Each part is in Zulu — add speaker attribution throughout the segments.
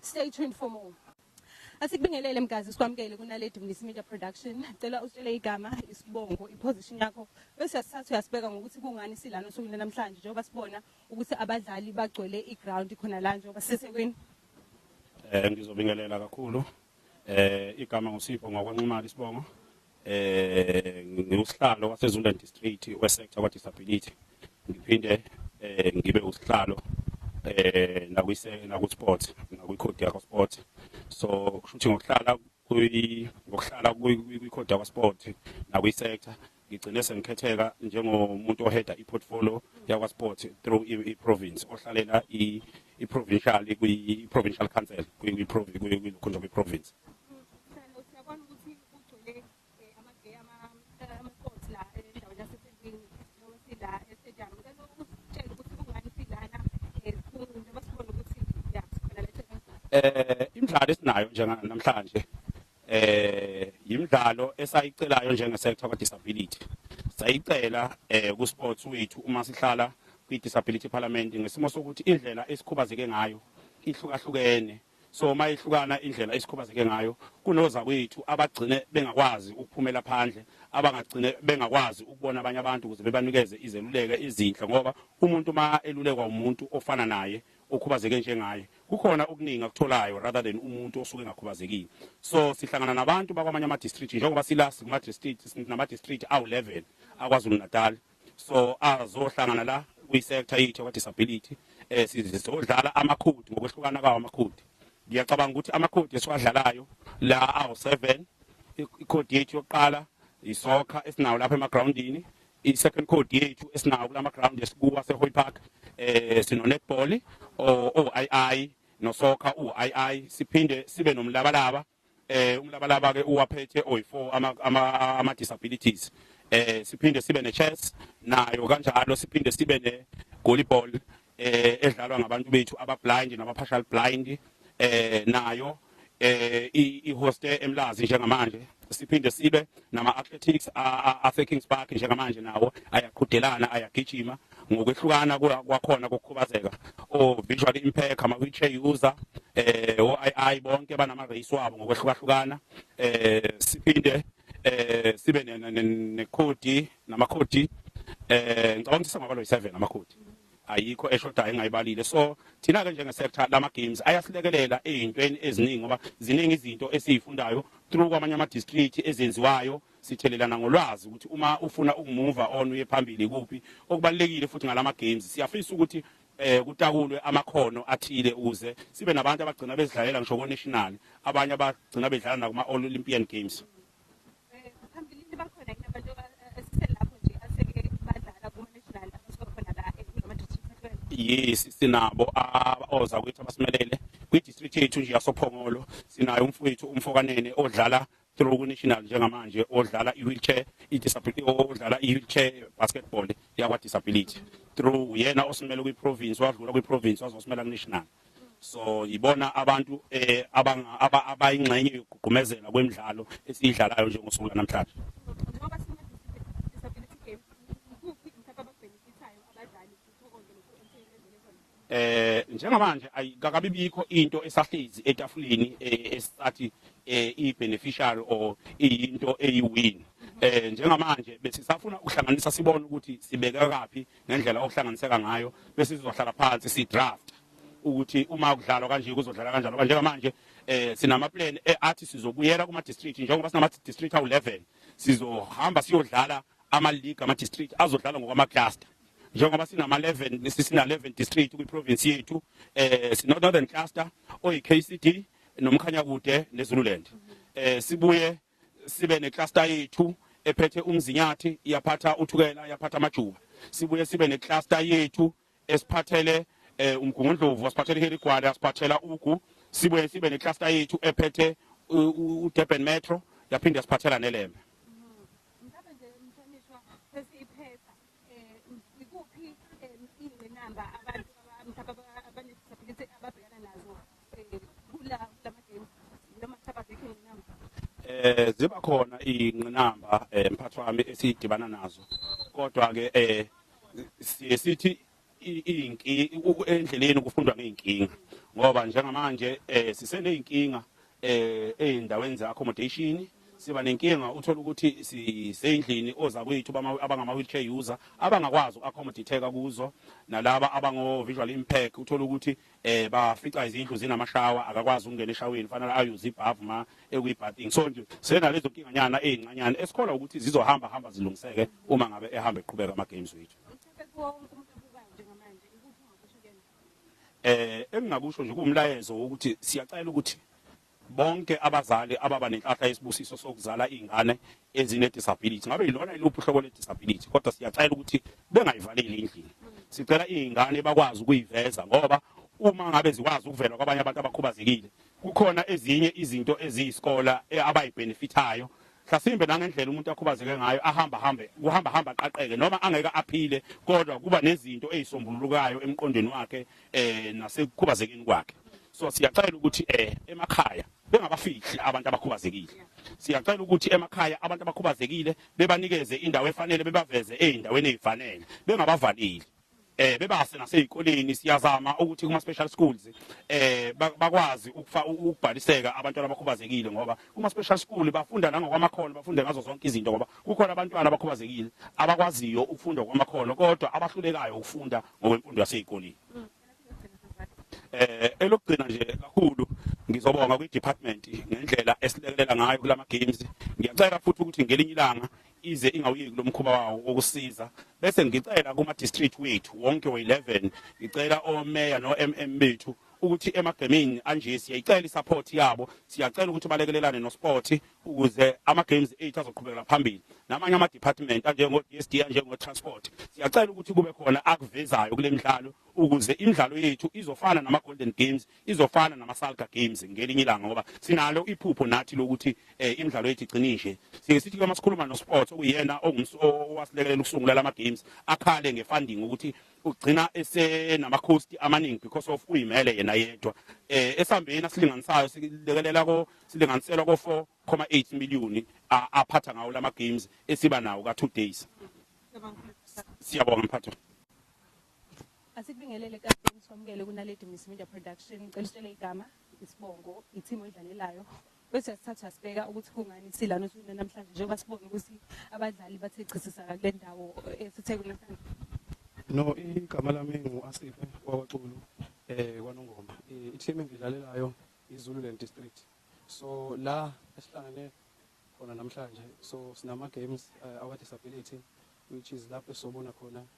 Speaker 1: Stay tuned for more. Asikubingelele mgazi sikwamukele kunaledi Mlisi Media Production. Cela usitshele igama, isibongo, iposition yakho bese sisathu uyasibeka ngokuthi kungani silana osukwini lanamhlanje njengoba sibona ukuthi abadlali bagcwele iground khona la njengoba sisesekweni. Eh
Speaker 2: ngizobingelela kakhulu. Eh igama ngusipho ngokwanqumala isibongo. eh ngiwusihlalo waseZululand District weSector kwa Disability ngiphinde eh ngibe usihlalo eh nakwise nakuSport nakwiCode yakho Sport so kushuthi ngokuhlala kuyi ngokuhlala kwiCode yakho Sport nakwiSector ngigcine sengikhetheka njengomuntu oheda iportfolio yakwa sport through i province ohlalela i i provincial kwi provincial council kwi province kwi lokhonja kwi province eh imidlalo esinayo njenganamhlanje eh imidlalo esayicelayo njenge sector ka disability sayicela eh ku sports wethu uma sihlala kwi disability parliament ngesimo sokuthi indlela esikhubazeke ngayo ihlukahlukene So mayehlukana indlela esikhubazeke ngayo kunozakwethu abagcine bengakwazi ukuphumela phandle abangagcine bengakwazi ukubona abanye abantu ukuze bebanikeze izeluleko ezinhle ngoba umuntu uma elulekwa umuntu ofana naye okhubazeke njengaye kukhona okuningi akutholayo rather than umuntu osuke engakhubazekile so sihlangana nabantu bakwamanye ama-district njengoba silast kuma-district sinama-district awu-11 akwazulu-natal so azohlangana la kwi-sector yethu kwa-disability um sizodlala amakhodi ngokwehlukana kwawo amakhodi ngiyacabanga ukuthi amakhodi esiwadlalayo la awu-seven ikhodi yethu yokuqala isokha esinawo lapha emagrawundini i-second code yethu esinawo kula magrawundi esikuwa sehoy park um sino-netball o-ii nosokha u-ii siphinde sibe nomlabalaba Eh umlabalaba ke uwaphethe oyi4 ama ama, ama disabilities. Eh siphinde sibe ne chess nayo kanjalo siphinde sibe ne volleyball eh edlalwa ngabantu bethu aba blind naba partial blind eh nayo eh i hoste emlazi njengamanje siphinde sibe nama athletics a Kings Park njengamanje nawo ayaqhudelana ayagijima ngokwehlukana kwakhona kokukhubazeka o-visual impact ama-wheelchair user eh o-ii bonke banama-race wabo ngokwehlukahlukana eh siphinde eh sibe nekhodi namakhodi eh ngicabanga ukuthi singaba lo 7 amakhodi ayikho eshodayo engayibalile so thina ke njenge sector lama games ayasilekelela ezintweni eziningi ngoba ziningi izinto esizifundayo through kwamanye ama district ezenziwayo sithelelana ngolwazi ukuthi uma ufuna ukumuva on uye phambili kuphi okubalekile futhi ngalama games siyafisa ukuthi eh kutakulwe amakhono athile ukuze sibe nabantu abagcina bezidlalela ngisho ko national abanye abagcina bedlala nakuma all Olympian games eh,
Speaker 1: phambilini bakhona kunabantu esiselapho nje aseke badlala kuma national abasokhona la ekulama district yes sinabo
Speaker 2: abaoza kwethu abasimelele kwi district yethu nje yasophongolo sinayo umfowethu umfokanene odlala through ku-national njengamanje odlala i-wheelchair odlala i-wheelchair basketball yakwa-disability through yena osimele kwi-province wadlula kwi-province wazosimela ku-national so yibona abantu eh abayingxenye yokugqumezela kwemidlalo esiyidlalayo njengosuku lanamhlanje Eh njengamanje ayikakabi bikho into esahlezi etafuleni eh, esisathi eh, i beneficiary or into eyi win. Eh njengamanje besisafuna ukuhlanganisa sibone ukuthi sibeka kapi ngendlela okuhlanganiseka ngayo bese sizohlala phansi si draft ukuthi uma kudlalwa kanje kuzodlala kanjalo kanje ngamanje eh sinama plan eh, athi sizobuyela kuma district njengoba sinama district awu 11 sizohamba siyodlala ama league ama district azodlala ngokwama cluster njengoba sinama 11 sisina 11 district kwi province yethu eh sino northern cluster oyi KCD nomkhanya kude neZululand eh sibuye sibe ne cluster yethu ephethe umzinyathi iyaphatha uthukela iyaphatha amajuba sibuye sibe ne cluster yethu esiphathele eh umgungundlovu asiphathele iHerigwala asiphathela ugu sibuye sibe ne cluster yethu ephethe uDurban Metro yaphinde siphathela neLembe eh ziba khona ingqinamba eh, mphathi wami esidibana nazo kodwa ke eh sithi endleleni kufundwa ngey'nkinga ngoba njengamanje um siseney'nkinga um ey'ndaweni ze-accommodation siba nenkinga uthola ukuthi sisendlini ozakwethu abangama-wheelchair user abangakwazi uku-accommodate-eka kuzo nalaba abango-visual impact uthola ukuthi um bafica izindlu zinamashawa akakwazi ukungena eshaweni fanele ayuze ibhavu ma ekwi-bathing so nje senalezo nkinganyana ey'ncanyana esikholwa ukuthi zizohamba hamba zilungiseke uma ngabe ehamba eqhubeka ama-games wethu Eh engingakusho nje kuwumlayezo wokuthi siyacela ukuthi bonke abazali ababa nenhlahla yesibusiso sokuzala izingane ezine disability ngabe yilona iluphi uhlobo le disability kodwa siyacela ukuthi bengayivaleli endlini sicela izingane bakwazi ukuyiveza ngoba uma ngabe zikwazi ukuvela kwabanye abantu abakhubazekile kukhona ezinye izinto eziyisikola eh, abayibenefithayo Mhlasimbe nangendlela umuntu akhubazeke ngayo ahamba hambe kuhamba hamba aqaqeke noma angeke aphile kodwa kuba nezinto ezisombululukayo emqondweni wakhe eh nasekukhubazekeni kwakhe so siyacela ukuthi eh emakhaya bengabafihli abantu abakhubazekile siyacela ukuthi emakhaya abantu abakhubazekile bebanikeze indawo efanele bebaveze ezindaweni ezifanele bengabavaleli eh bebase nasezikoleni siyazama ukuthi kuma special schools eh bakwazi ukufa ukubhaliseka abantwana abakhubazekile ngoba kuma special school bafunda nangokwamakhono bafunda ngazo zonke izinto ngoba kukhona abantwana abakhubazekile abakwaziyo ukufunda kwamakhono kodwa abahlulekayo ukufunda ngokwemfundo yasezikoleni eh elokugcina nje kakhulu ngizobonga kwi department ngendlela esilekelela ngayo kulama games ngiyacela futhi ukuthi ngelinye ilanga ize ingawuyeki lo mkhuba wawo wokusiza bese ngicela kuma-district wethu wonke we-11 ngicela omeya no-mm bethu ukuthi emagemini anje siyayicela i-support yabo siyacela ukuthi balekelelane nosport ukuze ama-games ethu azoqhubekela phambili namanye ama-department anjengo-d s d anjengo-transport siyacela ukuthi kube khona akuvezayo kule midlalo ukuze imidlalo yethu izofana nama-golden games izofana namasalga games ngelinye ilanga ngoba sinalo iphupho nathi lokuthi eh, imidlalo yethu igcine nje siye sithi uma sikhuluma nosports okuyena owasilekelela ukusungula lama games akhale ngefunding ukuthi ugcina esenama cost amaningi because of uyimele yena yedwa eh esambeni asilinganisayo silekelela ko silinganiselwa ko 4.8 million aphatha ngawo lama games esiba nawo ka 2 days siyabonga mphatho Asikubingelele
Speaker 1: kapteni sikwamukele kunaledi Miss Media Production ngicela usitshele igama isibongo i-team oyidlalelayo bese sithatha sibheka ukuthi kungani silana usuna namhlanje njengoba sibona ukuthi abadlali bathe chisisaka kule ndawo esithe kunamhlanje No
Speaker 3: igama lami ngu Asife kwaXulu eh kwaNongoma i-team engidlalelayo iZululand District so la esihlangene khona namhlanje so sinama games uh, our disability which is lapho sobona khona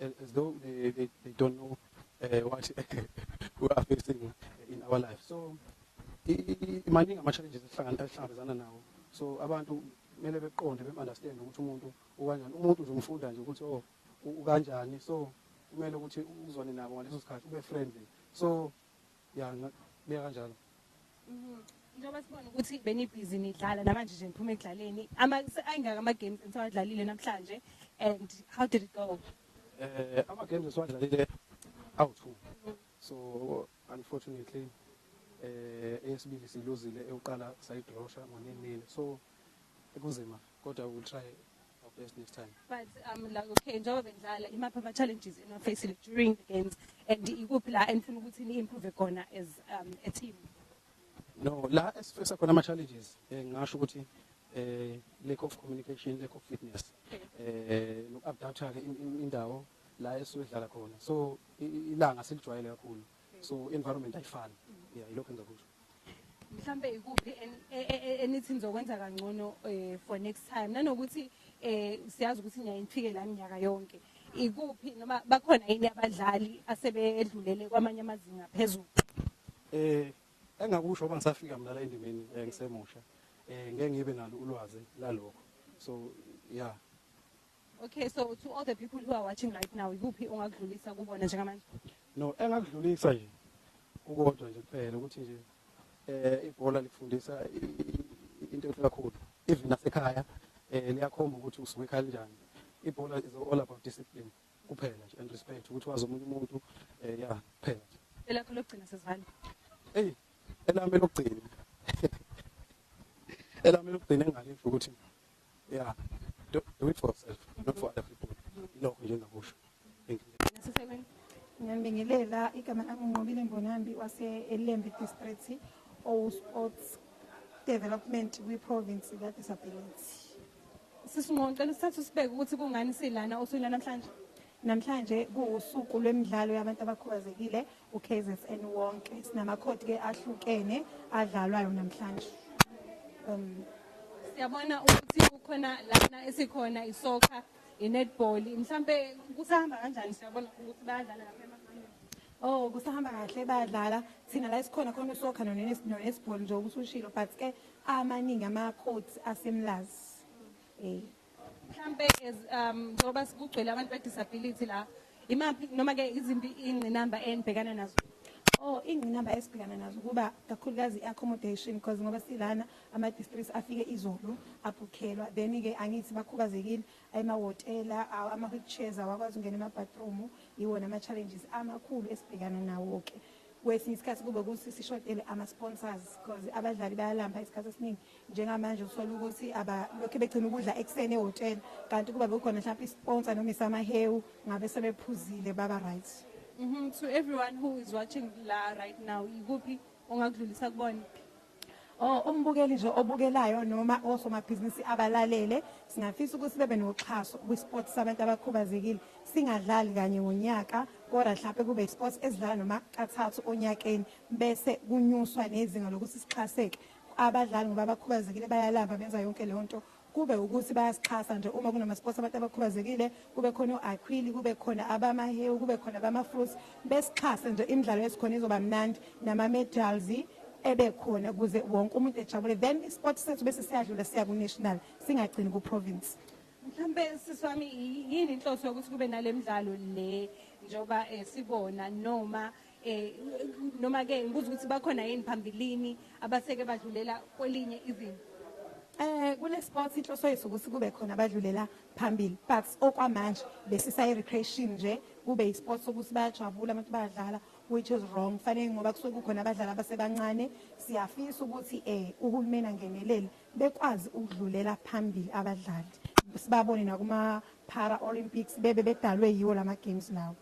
Speaker 3: as though they, they, they don't know uh, what we are facing in our life so maningi ama-challenges esihlangabezana nawo so abantu kumele beqonde be-understand ukuthi umuntu ukanjani umuntu nje umfunda nje ukuthi o oh, ukanjani so kumele ukuthi uzwane nabo ngaleso sikhathi ube friendly so Ya ngingakubeka kanjalo. Mhm. Njengoba
Speaker 1: sibona ukuthi benibhizi nidlala namanje nje niphuma ekudlaleni. Ama ayingaka ama games enisawadlalile namhlanje and how did it go? Eh ama
Speaker 3: games esiwadlalile awu two. So unfortunately eh eyesibili siluzile ewuqala sayidrosha ngo-9 nil. So kunzima kodwa we will try Hope there's next time. But um like okay
Speaker 1: njengoba bendlala imaphi ama challenges eno facing during the games and ikuphi la enifuna ukuthi ni improve khona as um a team? No,
Speaker 3: la esifisa khona ama challenges eh ngasho ukuthi eh lack of communication, lack of fitness. Eh nokuadaptha ke indawo la esizodlala khona. So ilanga silijwayele kakhulu. So environment ayifani. Yeah, yilokho engakusho. Mhlambe
Speaker 1: ikuphi enithi nizokwenza kangcono eh, for next time nanokuthi eh siyazi ukuthi niya ifike la minyaka yonke. Ikuphi noma bakhona yini abadlali asebedlulele kwamanye amazinga phezulu? Eh
Speaker 3: engakusho ngoba ngisafika mina la endimeni eh, ngisemusha. Eh ngeke ngibe nalo ulwazi lalokho. So yeah Okay,
Speaker 1: so to all the people who are watching right now, ikuphi ongakudlulisa kubona njengamanje? No, engakudlulisa
Speaker 3: nje kukodwa nje kuphela ukuthi nje eh ibhola likufundisa into enhle kakhulu. Even nasekhaya eh liyakhomba ukuthi usuke kanjani. Ibhola is all about discipline kuphela nje and respect ukuthi wazi omunye umuntu eh ya kuphela. Elakho lokugcina
Speaker 1: sesivale. Hey, elami
Speaker 3: lokugcina. Elami lokugcina engalisho ukuthi Yeah. Do, do it for yourself, not for other people. Ilokho nje engakusho. Thank you. Nasisebenzi.
Speaker 1: Ngiyambingelela
Speaker 4: igama lami Nqobile Mbonambi wase Elembe District owu Sports Development kwi Province ka Disability.
Speaker 1: Sisinqoqela isithathu sibeke ukuthi kungani silana osukwini namhlanje. Namhlanje
Speaker 4: kuwusuku lwemidlalo yabantu abakhubazekile uKZN wonke. Sinamakhodi ke ahlukene adlalwayo namhlanje. Um
Speaker 1: siyabona ukuthi kukhona lana esikhona isoccer, inetball. Mhlambe kusahamba kanjani siyabona ukuthi bayadlala lapha emakhaya. Oh kusahamba kahle
Speaker 4: bayadlala. Thina la esikhona khona usoccer nonetball nje ukuthi ushilo but ke amaningi ama codes asemlazi. Eh
Speaker 1: mhlampe as um njengoba sikugcwele abantu be disability la imaphi noma ke izimpi ingqinamba enibhekana nazo Oh ingqinamba
Speaker 4: esibhekana nazo kuba kakhulukazi accommodation because ngoba silana ama districts afike izolo aphukhelwa then ke angithi bakhubazekile ayemawotela ama wheelchairs awakwazi ungena ema bathroom iwona ama challenges amakhulu esibhekana nawo ke Kwesinye isikhathi kube ukuthi sishotele ama-sponsors because abadlali bayalamba isikhathi esiningi njengamanje uthole ukuthi abalokhe begcina ukudla ekuseni ehhotela kanti kuba bekukhona mhlawumpe isponsa noma isamahewu ngabe sebephuzile baba right mm -hmm. to
Speaker 1: everyone who is watching la right now ikuphi ongakudlulisa kubona or
Speaker 4: umbukeli nje obukelayo noma osomabhizinisi abalalele singafisa ukuthi bebe noxhaso kwisport sabantu abakhubazekile singadlali kanye ngonyaka kodwa mhlawumbe kube isports esidlala noma kathathu onyakeni bese kunyuswa nezinga lokuthi sixhaseke abadlali ngoba abakhubazekile bayalamba benza yonke leyo nto kube wukuthi bayasixhasa nje uma kunamasports abantu abakhubazekile kube khona o-aquili kube khona abamahewu kube khona abama-fruits besixhase nje imidlalo esikhona izoba mnandi nama-medals ebe khona ukuze wonke umuntu ejabule then isport sethu bese siyadlula siya ku-national singagcini ku-province mhlawumbe
Speaker 1: sisi wami yini inhloso yokuthi kube nale mdlalo le njengoba um sibona noma eh noma ke ngibuza ukuthi bakhona yini phambilini abaseke badlulela kwelinye izinga Eh kule
Speaker 4: sports inhloso yethu ukuthi kube khona abadlulela phambili but okwamanje besisayi recreation nje kube i sports ukuthi bayajabula abantu bayadlala which is wrong fanele ngoba kusuke kukhona abadlali abasebancane siyafisa ukuthi eh uhulumeni angenelele bekwazi ukudlulela phambili abadlali sibabone nakuma para olympics bebe bedalwe yiwo lama games lawo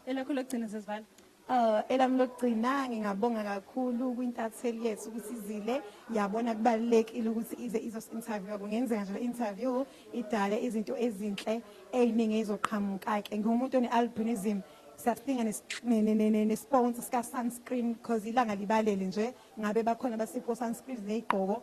Speaker 4: Elakho lokugcina
Speaker 1: sesivala. Uh, elami
Speaker 4: lokugcina ngingabonga kakhulu kwintatheli yethu ukuthi izile yabona kubalulekile ukuthi ize izosi-interviewa kungenzeka nje le-interview idale izinto ezinhle ey'ningi ey'zoqhamuka-ke ngiwumuntu one-albinism siyadinga nesiponsa sika-sunscreen because ilanga libalele nje ngabe bakhona basipho sunscreen ney'gqoko